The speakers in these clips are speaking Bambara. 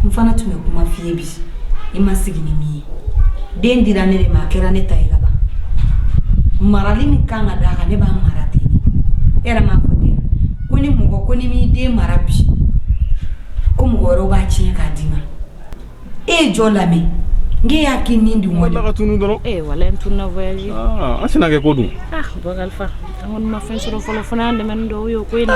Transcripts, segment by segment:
n fana tun bɛ kuma f'i ye bi i ma sigi ni min ye den dira ne de ma a kɛra ne ta ye ka ban marali min kan ka d'a kan ne b'a mara ten e yɛrɛ m'a fɔ ten ko ni mɔgɔ ko n'i m'i den mara bi ko mɔgɔ wɛrɛw b'a tiɲɛ k'a d'i ma e ye jɔ lamɛn n k'e y'a k'i nin dun wuli ka tunu dɔrɔn ee wala n tununa voyage an sina kɛ ko dun ah bakarifa an kɔni ma fɛn sɔrɔ fɔlɔ fana y'an dɛmɛ ni dɔw ye o ko in na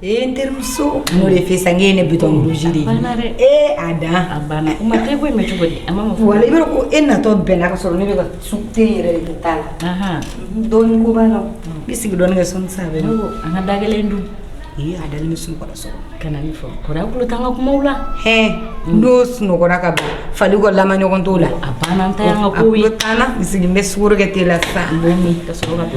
Ee n terimuso n'o de fɛ sa n k'e ne bi burusi de ee a da banna ma e bɔ mɛ cogo di a ma fɔ wala i b'a dɔn ko e natɔ bɛnna ka sɔrɔ ne bɛ ka sukaro yɛrɛ de t'a la dɔɔni ko b'a la i sigi dɔɔni kɛ sa an ka da kelen dun a dalen bɛ sunɔgɔ Kana nin fɔ kɔri a tulo t'an ka kumaw la hɛɛ n'o sunɔgɔra ka ban fali kɔ lama ɲɔgɔn t'o la a banna an ta y'an ka kow ye a tulo t'an na i sigi n bɛ sukaro kɛ te la sisan n b'o min ka sɔrɔ ka do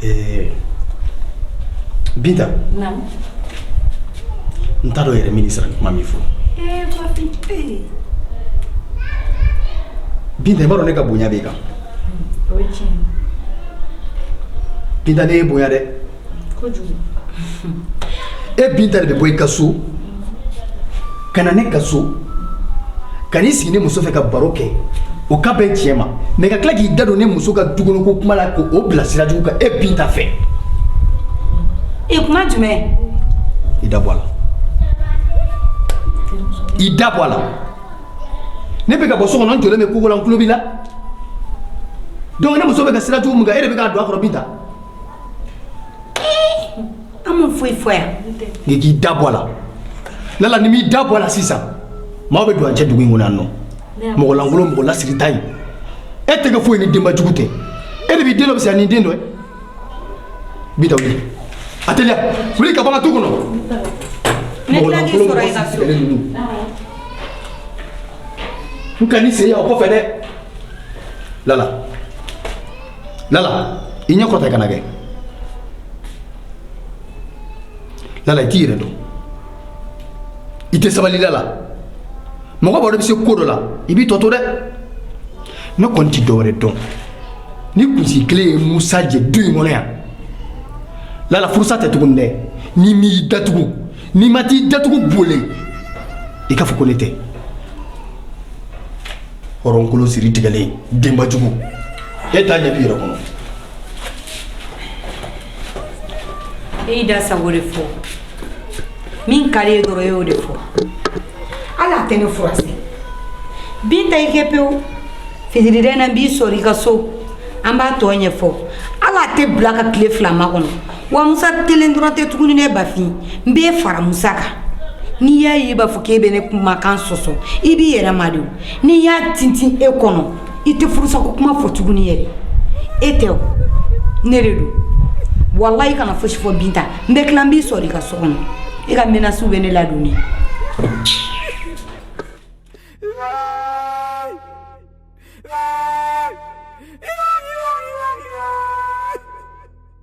Ɛɛ binta n t'a dɔn yɛrɛ mini sara kuma min fɔ binta i b'a dɔn ne ka bonya b'i kan binta ne y'i bonya dɛ e binta de bɛ bɔ i ka so ka na ne ka so ka n'i sigi ni muso fɛ ka baro kɛ o ka bɛn tiɲɛ ma mais ka tila k'i da don ne muso ka dukɔnɔ kuma la k'o bila sira jugu kan e binta fɛ e kuma jumɛn i da bɔ a la i da bɔ a la ne bɛ ka bɔ so kɔnɔ n jɔlen bɛ kogo la n tulo b'i la donc ne muso bɛ ka sira jugu min kan e de bɛ k'a don a kɔrɔ binta An m'o foyi fɔ yan n k'i da bɔ a la lala n'i m'i da bɔ a la sisan maaw bɛ don an cɛ dugu in kɔnɔ yan nɔ mɔgɔ lankolon mɔgɔ lasiritan in e tɛ kɛ foyi ni denba jugu tɛ e de b'i den dɔ fisa ni den dɔ ye binta wuli a teliya wuli ka bɔ n ka du kɔnɔ mɔgɔ lankolon n kan'i sen ye yan o kɔfɛ dɛ lala lala i ɲɛ kɔrɔta i kana kɛ lala i t'i yɛrɛ dɔn i tɛ sabali lala mɔgɔ b'a dɔn i bɛ se ko dɔ la i b'i tɔ to dɛ ne kɔni tɛ dɔwɛrɛ dɔn ni kunsigi kelen ye musa jɛ du in kɔnɔ yan lala furusa tɛ tuguni dɛ n'i m'i datugu ni n ma t'i datugu bolen i k'a fɔ ko ne tɛ hɔrɔnkolo siri tigɛlen denbajugu e t'a ɲɛ b'i yɛrɛ kɔnɔ e y'i da sago de fɔ min ka d'i ye dɔrɔn e y'o de fɔ hali a tɛ ne furusa binta i kɛ pewu fitiriden na n b'i sɔrɔ i ka so an b'a tɔ ɲɛfɔ hali a tɛ bila ka tile fila makɔnɔ Wa musa kelen dɔrɔn tɛ tuguni ne bafin n b'i fara musa kan n'i y'a ye i b'a fɔ k'i bɛ ne kumakan sɔsɔ i b'i yɛrɛ ma de n'i y'a tintin i kɔnɔ i tɛ furusako kuma fɔ tuguni yɛrɛ e tɛ ne de dɔn walayi i kana fosi fɔ binta n bɛ tila n b'i sɔrɔ i ka so kɔnɔ i ka menace bɛ ne ladonni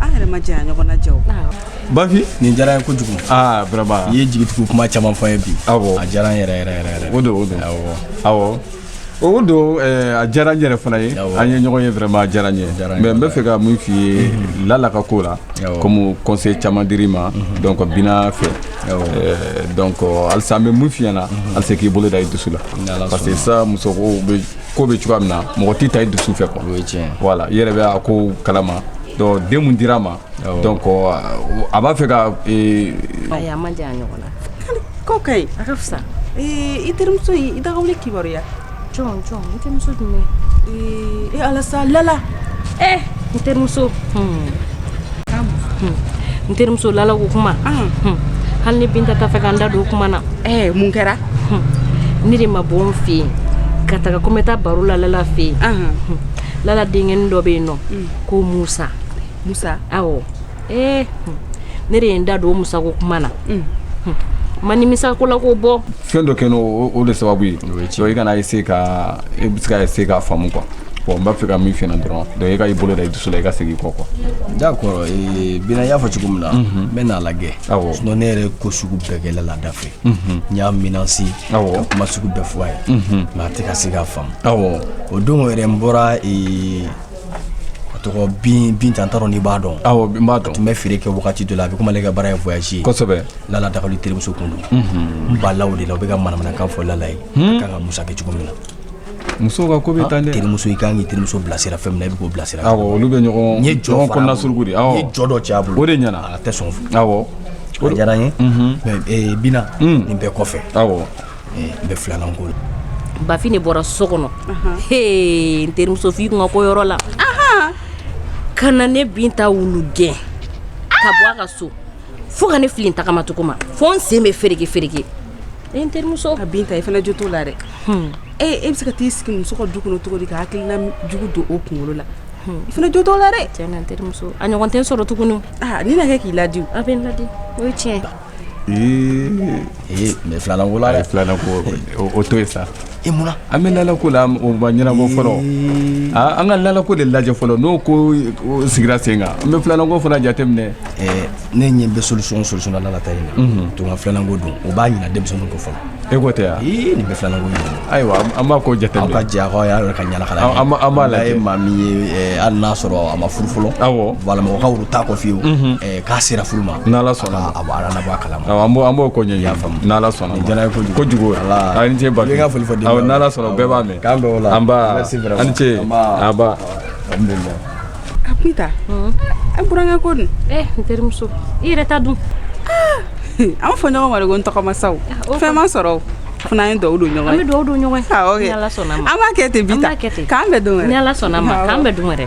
an yɛrɛ ma janya ɲɔgɔn na ja o. Awɔ. Bafi nin diyara n ye kojugu. Aa vraiment i ye jigitugu kuma caman fɔ n ye bi. Awɔ a diyara n yɛrɛ ye. O don o don awɔ awɔ. O don a diyara n yɛrɛ fana ye an ye ɲɔgɔn ye vraiment a diyara n ye mais n bɛ fɛ ka mun f'i ye Lala ka ko la comme conseil caman dir'i ma donc Bina fɛ donc halisa n bɛ mun f'i ɲɛna halisa i k'i bolo da i dusu la parce que sisan muso ko bɛ ko bɛ cogoya min na mɔgɔ tɛ taa i dusu fɛ quoi o ye tiɲɛ ye voilà i yɛrɛ bɛ a ko kalama donc den mun dira ma awɔ donc euh, a b'a fɛ ka ee, ayi a man jan ɲɔgɔn na ko ka ɲi a ka fisa Ee, i terimuso in i dagawuli kibaruya jɔn jɔn n terimuso jumɛn ee e ala sa lala ee n terimuso n terimuso lala ko kuma hali ni binta t'a fɛ ka n da don o kuma na mun kɛra ne de ma bɔ n fɛ yen ka taga ko n bɛ taa baro la lala fɛ yen lala denkɛ dɔ bɛ yen n'o ko musa musa awɔ ee ne de ye n da don o musako kuma na ma nimisa ko la k'o bɔ fɛn dɔ kɛ n'o de sababu ye donc i kana essayer ka i bɛ se ka essayer k'a faamu quoi bon n b'a fɛ ka min fɔ dɔrɔn donc i k'i bolo da i dusu la i ka segin kɔ quoi d'accord bina y'a fɔ cogo min na n bɛ n'a lajɛ sinon ne yɛrɛ ko sugu bɛɛ kɛ lala da fɛ n y'a menacer ka kuma sugu bɛɛ fɔ a ye mais a tɛ ka se k'a faamu o don yɛrɛ n bɔra a tɔgɔ bin binta n t'a dɔn n'i b'a dɔn awɔ n b'a dɔn a tun bɛ feere kɛ wagati dɔ la a bɛ komi a ka baara ye voyage ye kosɛbɛ lala dagali terimuso tun don n b'a la o de la u bɛ ka manamanakan fɔ lala ye a ka kan ka musa kɛ cogo min na muso ka ko bɛ tan terimuso i ka kan k'i terimuso bilasira fɛn min na i bɛ k'o bilasira olu bɛ ɲɔgɔn ye jɔn kɔnɔna suruku de n ye jɔ dɔ cɛ a bolo o de ɲɛna a tɛ sɔn a diyara n ye bina nin bɛɛ kɔfɛ aw bɛ filanan ko la Bafi ne bɔra so kɔnɔ n terimuso f'i kunkanko yɔrɔ la ka na ne Binta wulu gɛn ka bɔ a ka so fo ka ne fili n tagamacogo ma fo n sen bɛ fereke fereke n terimuso a Binta i fana jo t'o la dɛ e e bɛ se ka taa i sigi muso ka du kɔnɔ cogo di ka hakilila jugu don o kunkolo la i fana jo t'o la dɛ terimuso a ɲɔgɔn tɛ n sɔrɔ tuguni ni na kɛ k'i ladi a bɛ n ladi o ye tiɲɛ Mɛ filanan ko la filanan ko o to yen sa e munna an bɛ Lala ko la o ma ɲɛnabɔ fɔlɔ an ka Lala ko de lajɛ fɔlɔ n'o ko sigira sen kan an bɛ filanan ko fana jateminɛ ne ɲɛ bɛ solisɔn solisɔn na Lala ta in na to filanan ko don o b'a ɲina denmisɛnnin ko fɔlɔ E ko tɛ nin bɛ filan ayiwa an b'a ko jate ka diya y'a yɛrɛ ka ɲaga b'a la ye maa min ye hali n'a sɔrɔ a ma furu fɔlɔ awmɔgɔ ta kɔfɛ fiyewu k'a sera furu ma sɔnna a bɔ kala an b'o kɔn ɲɛ sɔnna kojugu y'a foli fɔ sɔnna bɛɛ b'a mɛn an ce A Binta e burankɛ ko dun n terimuso i yɛrɛ ta dun an b'a fɔ ɲɔgɔn ma de ko n tɔgɔma sa fɛn ma sɔrɔ fana an ye dugawu don ɲɔgɔn ye an bɛ dugawu don ɲɔgɔn ye an b'a kɛ ten Binta k'an bɛn don wɛrɛ ni Ala sɔnna ma k'an bɛn don wɛrɛ